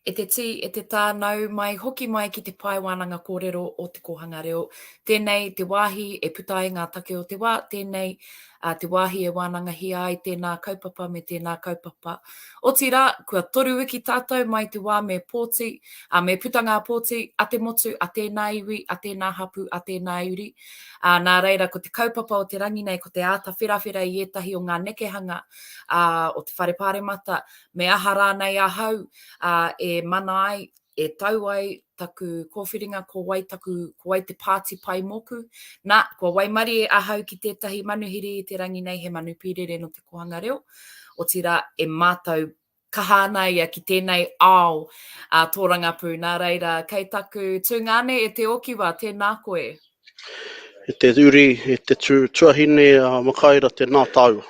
E te tī, e te tā, nau mai, hoki mai ki te pae wānanga kōrero o te kōhanga reo. Tēnei te wāhi e puta ai ngā take o te wā, tēnei ā te wāhi e wānangahia ai tēnā kaupapa me tēnā kaupapa. Otirā, kua toru wiki tātou mai te wā me pōti, ā, me puta ngā pōti a te motu, a tēnā iwi, a tēnā hapū, a tēnā uri. Ā, nā reira, ko te kaupapa o te rangi nei, ko te āta wherawhera i ētahi o ngā nekehanga, ā, o te Whare Pāremata, me aha rānei ahau, ā, e mana ai, e tau ai taku kōwhiringa, ko wai taku, ko wai te pāti pai mōku. Nā, kua waimarie ahau ki tētahi manuhiri i te rangi nei, he manu pīrere no te kohanga reo, otirā e mātau kaha ana ia ki tēnei ao a tōrangapū. Nā reira, kei taku tūngāne e Te Okiwa, tēnā koe. E te uri, e te tū, tuahine a Makaira, tēnā tāua.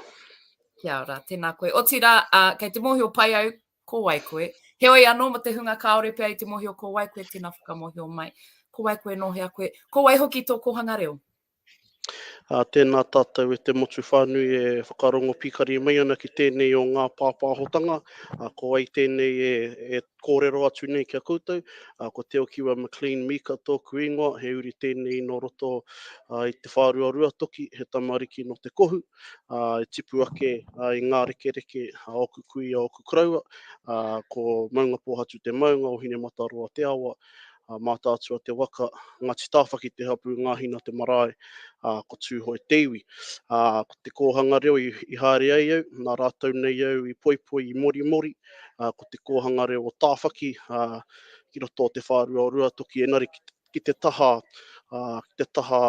Kia ora, tēnā koe. Otirā, uh, kei te mōhio pai au, Ko wai koe? Heoi anō mo te hunga kāore pea i te mōhio ko wai koe tēnā whakamōhio mai. Ko wai koe nō hea koe? Ko wai hoki tō kōhanga reo? Ā, tēnā tātou e te motu whānui e whakarongo pīkari mai ana ki tēnei o ngā pāpāhotanga, ā, ko wai tēnei e, e kōrero atu nei ki a koutou, ā, ko Te Okiwa McLean Meeker tōku ingoa, he uri tēnei nō roto ā, i te whāruarua toki, he tamariki nō Te Kohu. ā, e tipu ake ā, i ngā rekereke a ōku kui, a ōku koroua, ā, ko Maungapōhatu te maunga, o Hinemataroa te awa, ā, Mātaatua te waka, Ngāti Tāwhaki te hapū, Ngāhina te marae, ā, ko Tūhoe te iwi. Ā, ko te kōhanga reo i, i haere ai au, nā rātou nei au i poipoi, i morimori, ā, ko te kōhanga reo o Tāwhaki, ā, ki roto o te whārua o Ruatoki, engari ki te, ki te taha, ki te taha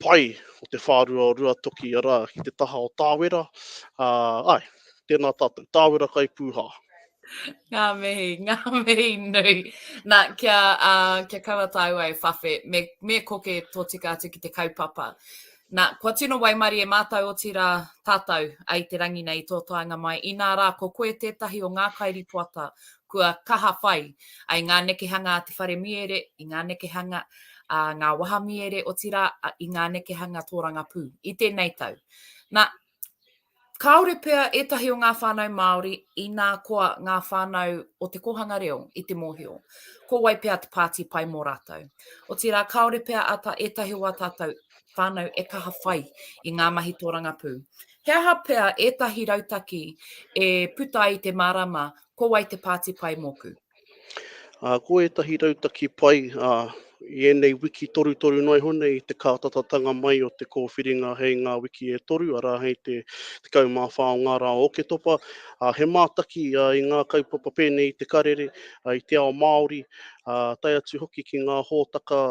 pai o te whārua o Ruatoki, arā, ki te taha o Tāwera. Ai, tēnā tātou, Tāwera kai pūhā. Ngā mihi, ngā mihi nui. Nā, kia, uh, kia kaua tāua e whawhe, me, me koke tōtika atu ki te kaupapa. Nā, kua tino waimarie mātou otirā tātou ai te rangi nei i tō taenga mai, inā rā ko koe tētahi o ngā kairipoata kua kaha whai ai ngā nekehanga a te whare miere, i ngā nekehanga a ngā wahamiere otirā i ngā nekehanga tōrangapū i tēnei tau. Nā, Kāore pea ētahi o ngā whānau Māori inā koa ngā whānau o te kōhanga reo i te mōhio, ko wai pea te pāti pai mō rātou. Otirā, kāore pea ata ētahi o ā tātou whānau e kaha whai i ngā mahi tōrangapū. He aha pea ētahi rautaki e puta ai te mārama, ko wai te pāti pai mōku? Ā, ko ētahi rautaki pai, ā, i ēnei wiki torutoru noa iho nei i te kātatatanga mai o te kōwhiringa hei ngā wiki e toru, arā, hei te 14 o ngā rā o Oketopa, ā, he mātaki i ngā kaupapa pēnei i te karere, i te ao Māori, ā, tae atu hoki ki ngā hōtaka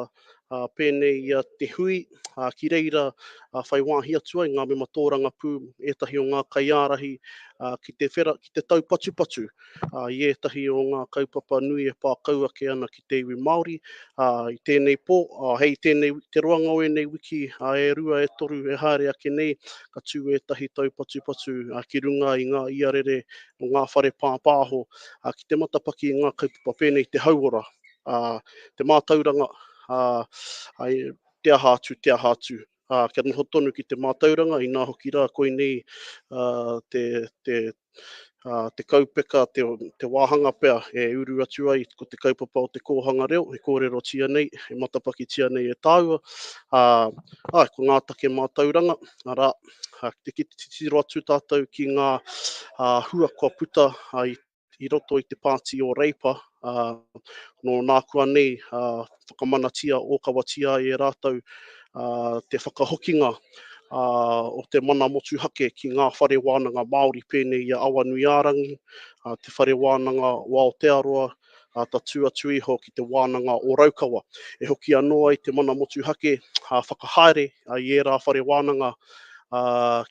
ā, pēnei ia te hui, ā, ki reira ā, whai wāhi atu ai ngā mema tōrangapū, ētahi o ngā kaiārahi, ā, ki te whera, ki te taupatupatu ā, i ētahi o ngā kaupapa nui e pā kau ake ana ki te iwi Māori, ā, i tēnei pō, ā, hei tēnei, te roanga o ēnei wiki ā, e rua, e toru, e haere ake nei, ka tū ētahi taupatupatu ā, ki runga i ngā iarere o ngā whare pāpāho ā, ki te matapaki i ngā kaupapa pēnei i te hauora. uh, te mātauranga, uh, ai, te aha atu, te aha atu. Uh, kia noho tonu ki te mātauranga, inā hoki rā koinei uh, te, te, uh, te kaupeka, te, te wāhanga pea e uru atu ai ko te kaupapa o te kōhanga reo, e kōrero tia nei, e matapaki tia nei e tāua. Uh, ai, ko ngā take mātauranga, arā, uh, te kititiro atu tātou ki ngā uh, hua kua puta uh, i i roto i te pāti o Reipa, ā, nō nā kua nei, ā, whakamanatia, ōkawatia ai e rātou, ā, te whakahokinga, ā, o te mana motuhake ki ngā whare wānanga Māori pēnei i a Awanuiārangi, ā, te whare wānanga o Aotearoa, ā, tatū atu iho ki te wānanga o Raukawa. E hoki anō ai te mana motuhake, ā, whakahaere i ērā whare wānanga,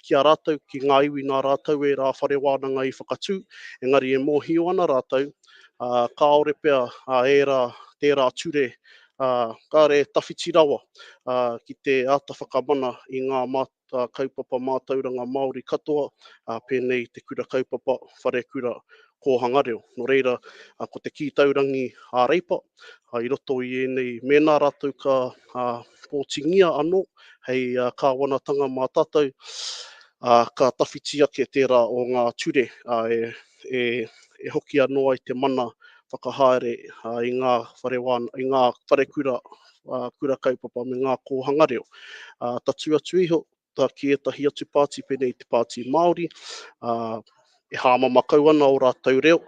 ki a rātou, ki ngā iwi nā rātou e rā whare wānanga i whakatū, engari e mōhio ana rātou, kāore pea e rā tērā ture, kāre e tawhiti rawa ki te āta whakamana i ngā kaupapa mātauranga Māori katoa, pēnei te kura kaupapa, wharekura, kōhanga reo. Nō reira, ko te kī taurangi a Reipa, i roto i ēnei, mēnā rātou ka pōtingia anō hei kāwanatanga mā tātou, ā, ka tawhiti ake tērā o ngā ture e hoki anō ai te mana whakahaere i ngā wharekura, kura kaupapa me ngā kōhanga reo. Tatū atu iho, puta ki ētahi atu pāti pēnei i te pāti Māori, ā, e hāmama kau ana ō rātou reo,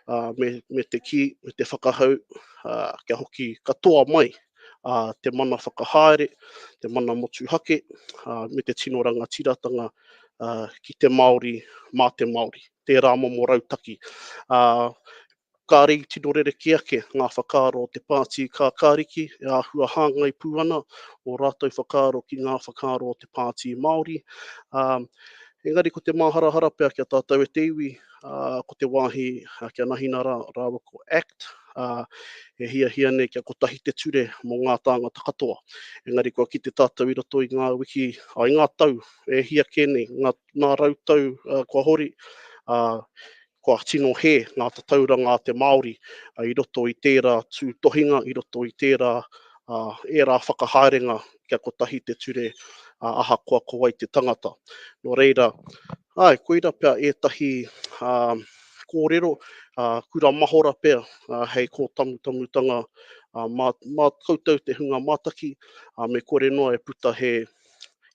ā, me, me te kī, me te whakahau, ā, kia hoki katoa mai ā, te mana whakahaere, te mana motuhake, ā, me te tino rangatiratanga ā, ki te Māori, mā te Māori. Tērā momo rautaki. Ā, Kāre i tino rerekē ake ngā whakaaro o te Pāti Kākāriki e āhua hāngai pū ana ō rātou whakaaro ki ngā whakaaro o te Pāti Māori, ā, engari ko te māharahara pea ki a tātou e te iwi, ā, ko te wāhi kia nahina rā rāua ko act, ā, e hiahia nei kia kotahi te ture mō ngā tāngata katoa. Engari kua kite tātou i roto i ngā wiki, ā, i ngā tau e hia kē nei, ngā, ngā rau tau kua hori, ā, kua tino hē ngā tatauranga a te Māori i roto i tērā tūtohinga, i roto i tērā ērā whakahaerenga kia kotahi te ture ahakoa ko wai te tangata. Nō reira, āe, koira pea ētahi kōrero, kura mahora pea hei kōtamutamutanga mā koutou te hunga mātaki, me kore noa e puta he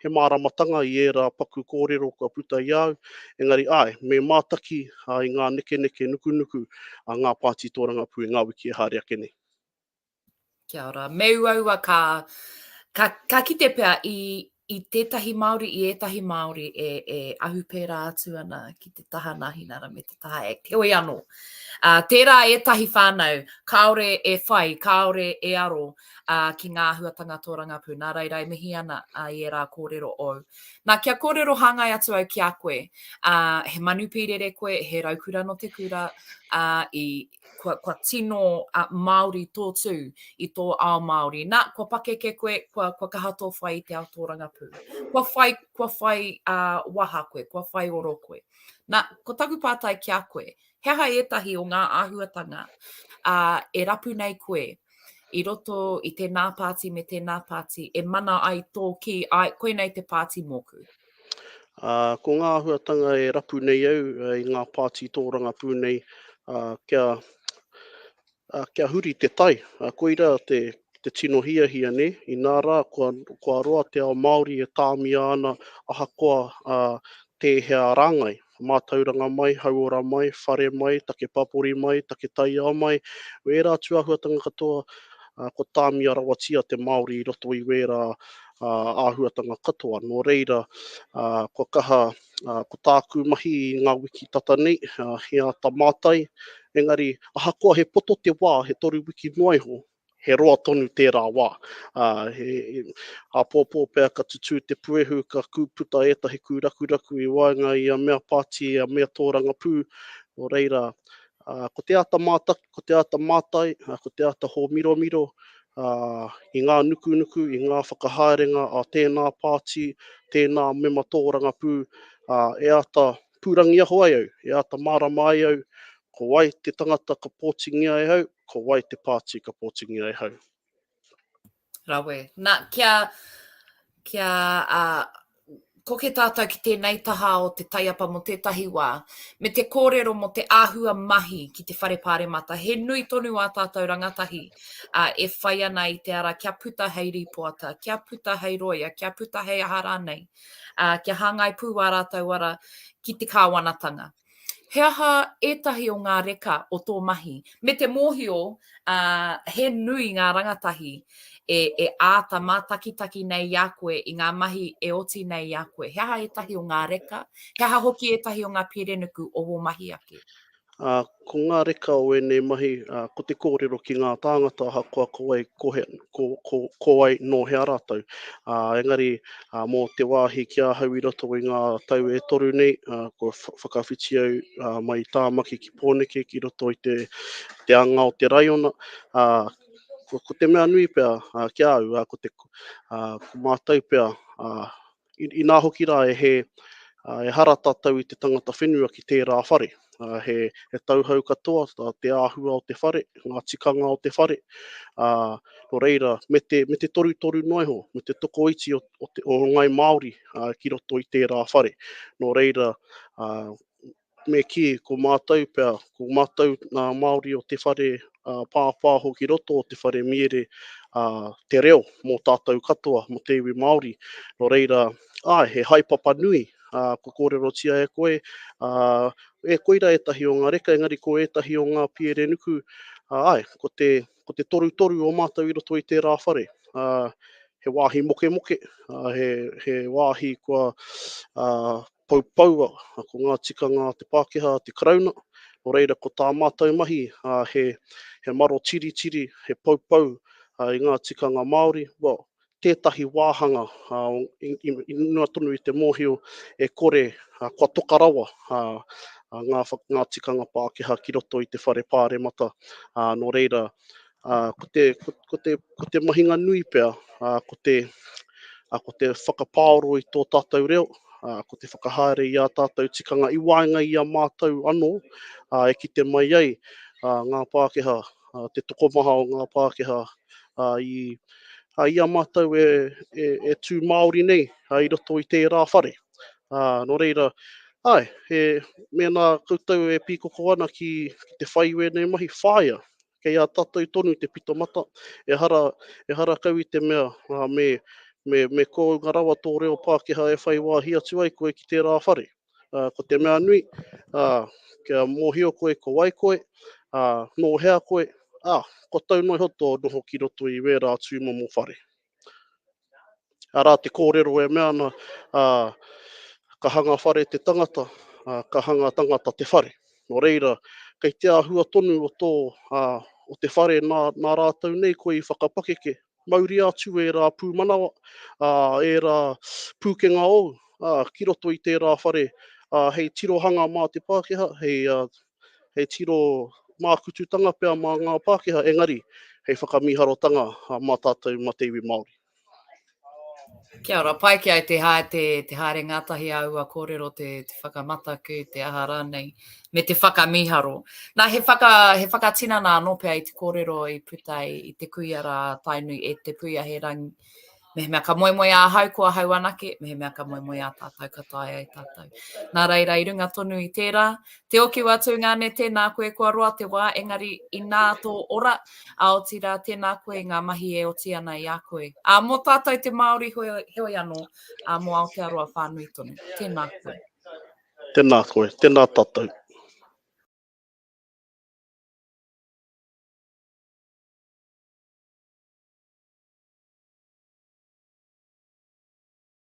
He māramatanga i ērā paku kōrero kua puta i a au, engari āe, me mātaki i ngā nekeneke nukunuku a ngā pāti tōrangapū i ngā wiki e haere ake nei. Kia ora. Me uaua ka, ka, ka kite pea i, i tētahi Māori, i ētahi Māori e, e ahu pērā atu ana ki te taha nā Hinara me Tahaek. Heoi anō, ā, tērā ētahi whānau, kāore e whai, kāore e aro ā, ki ngā āhuatanga tōrangapū. Nā reira e mihi ana ā, i ērā kōrero ōu. Nā, kia kōrero hāngai atu au ki a koe, ā, he manu pīrere koe, he raukura nō te kura, ā, i, kua, kua tino ā, Māori tō tū i tō ao Māori. Nā, kua pakeke koe, kua, kua kaha tō whai i te ao tōrangapū. Kua whai, kua whai ā, waha koe, kua whai oro koe. Na, ko taku pātai ki a koe, he aha ētahi o ngā āhuatanga ā, e rapu nei koe i roto i tēnā pāti me tēnā pāti e mana ai tō ki ai koinei te pāti mōku? Ā, ko ngā āhuatanga e rapu nei au i ngā pāti tōrangapū nei, ā, kia Ā, kia huri te tai. Ā, koirā te, te tino hiahia, nē? Inā rā, kua, kua roa te ao Māori e tāmia ana ahakoa, ā, tēhea rāngai, mātauranga mai, hauora mai, whare mai, take papori mai, take taiao mai, wērā tūāhuatanga katoa, ā, kua tāmia rawatia te Māori i roto i wērā, ā, āhuatanga katoa. Nō reira, ā, kua kaha Uh, ko tāku mahi i ngā wiki tata nei, uh, he āta mātai, engari ahakoa he poto te wā, he toru wiki noa iho, he roa tonu tērā wā. Uh, he, he, a pōpō pea ka tutū te puehu, ka kūputa ētahi kūrakuraku i waenga i a mea pāti, a mea tōrangapū, o reira, uh, ko te āta mātai, Ko te āta mātai, ko te āta hōmiromiro i ngā nukunuku, i ngā whakahaerenga a tēnā pāti, tēnā mema tōrangapū, e āta pūrangiaho ai au, e āta mārama ai au ko wai te tangata ka pōtingia e au, ko wai te pāti ka pōtingia e au. Rawe. Na, kia, kia uh, koke tātou ki tēnei taha o te taiapa mo tētahi wā, me te kōrero mo te āhua mahi ki te whare pāremata. He nui tonu ā tātou rangatahi uh, e whai ana i te ara kia puta hei rīpoata, kia puta hei roia, kia puta hei aha rānei, uh, kia hāngai pū wā rātou ara ki te kāwanatanga. He aha ētahi o ngā reka o tō mahi? Me te mōhio, he nui ngā rangatahi e, e āta mātakitaki nei i a koe i ngā mahi e oti nei i a koe. He aha ētahi o ngā reka? He aha hoki ētahi o ngā pērenuku o wō mahi ake? Ā, ko ngā reka o ēnei mahi, ā, ko te kōrero ki ngā tāngata ahakoa ko wai, ko he, ko, ko, ko wai, nō hea rātou. Ā, engari, ā, mō te wāhi ki ahau i roto i ngā tau e toru nei, ā, kua whakawhiti au ā, mai i Tāmaki ki Pōneke ki roto i te, te anga o te raiona, ā, ko, ko te mea nui pea ā, ki a au, ā, ko, te, ā, ko mātou pea, ā, inā hoki rā e hē, ā, ehara tātou i te tangata whenua ki tērā whare. uh, he, he tauhau katoa tā te āhua o te whare, ngā tikanga o te whare, uh, no reira, me te, me te toru toru noa iho, me te tokoiti o, o, te, o ngai Māori uh, ki roto i tērā whare. No reira, uh, me ki ko mātou pea, ko mātou nā Māori o te whare uh, pāpāho ki roto o te whare miere uh, te reo mō tātou katoa, mō te iwi Māori. No reira, ai, he haipapa nui ā, kua kōrerotia e koe, ā, e koira ētahi o ngā reka, engari ko ētahi o ngā pierenuku, ā, āe, ko te, ko te torutoru o mātou i roto i tērā whare, ā, he wāhi mokemoke, ā, he, he wāhi kua ā, poupoua, ko ngā tikanga a te Pākehā, a te Karauna, nō reira ko tā mātou mahi, ā, he, he maro tiritiri, he poupou, ā, i ngā tikanga Māori, well, tētahi wāhanga i runga tonu i te mōhio e kore kua toka rawa ngā tikanga Pākehā ki roto i te whare pāremata. Nō reira, ko te mahinga nui pea, ko te whakapaoro i tō tātou reo, ko te whakahaere i ā tātou tikanga i waenga i a mātou anō e kite mai ai ngā Pākehā uh, te tokomaha o ngā Pākehā uh, i, uh, i a mātou e, e, e tū Māori nei uh, i roto i tērā whare. Uh, no reira, ai, e, mēnā koutou e pīkoko ana ki, ki te whai wēnei mahi, whāia, kei a tātou tonu te pito mata, e hara, e hara kau i te mea uh, me, me, me kōunga rawa tō reo Pākehā e whai wāhi atu ai koe ki tērā whare. uh, ko te mea nui, uh, kia mōhio koe ko wai koe, uh, nō hea koe, ah, ko tau noi ho tō noho ki roto i wērā tūmomo whare. Arā te kōrero e mea ana, uh, ka hanga whare te tangata, uh, ka hanga tangata te whare. Nō reira, kei te āhua tonu o, tō, uh, o te whare nā, nā rātou nei koe i whakapakeke, mauria atu ērā pūmanawa, ā, ērā pūkenga ou, ā, ki roto i tērā whare, ā, hei tirohanga mā te Pākehā, hei, ā, hei tiro mākututanga pea mā ngā Pākehā, engari, hei whakamīharotanga mā tātou, mā te iwi Māori. Kia ora, pai ki au te haere ngātahi āua kōrero, te whakamataku, te aha rānei. me te whakamiharo. Nā, he, whaka, he whakatinana anō pea i te kōrero i puta i te kuia rā Tainui e te puia he rangi. Me mea ka moemoe a hau ko a hau anake, me mea ka moemoe a tātou ka tae ai tātou. Nā reira i runga tonu i tērā, te oki wā tūngane tēnā koe kua roa te wā, engari inā tō ora, a oti rā tēnā koe i ngā mahi e oti ana i a koe. A mō tātou te Māori hoi, hoi anō, a mō Aotearoa whānui tonu, tēnā koe. Tena koe, tena tatou.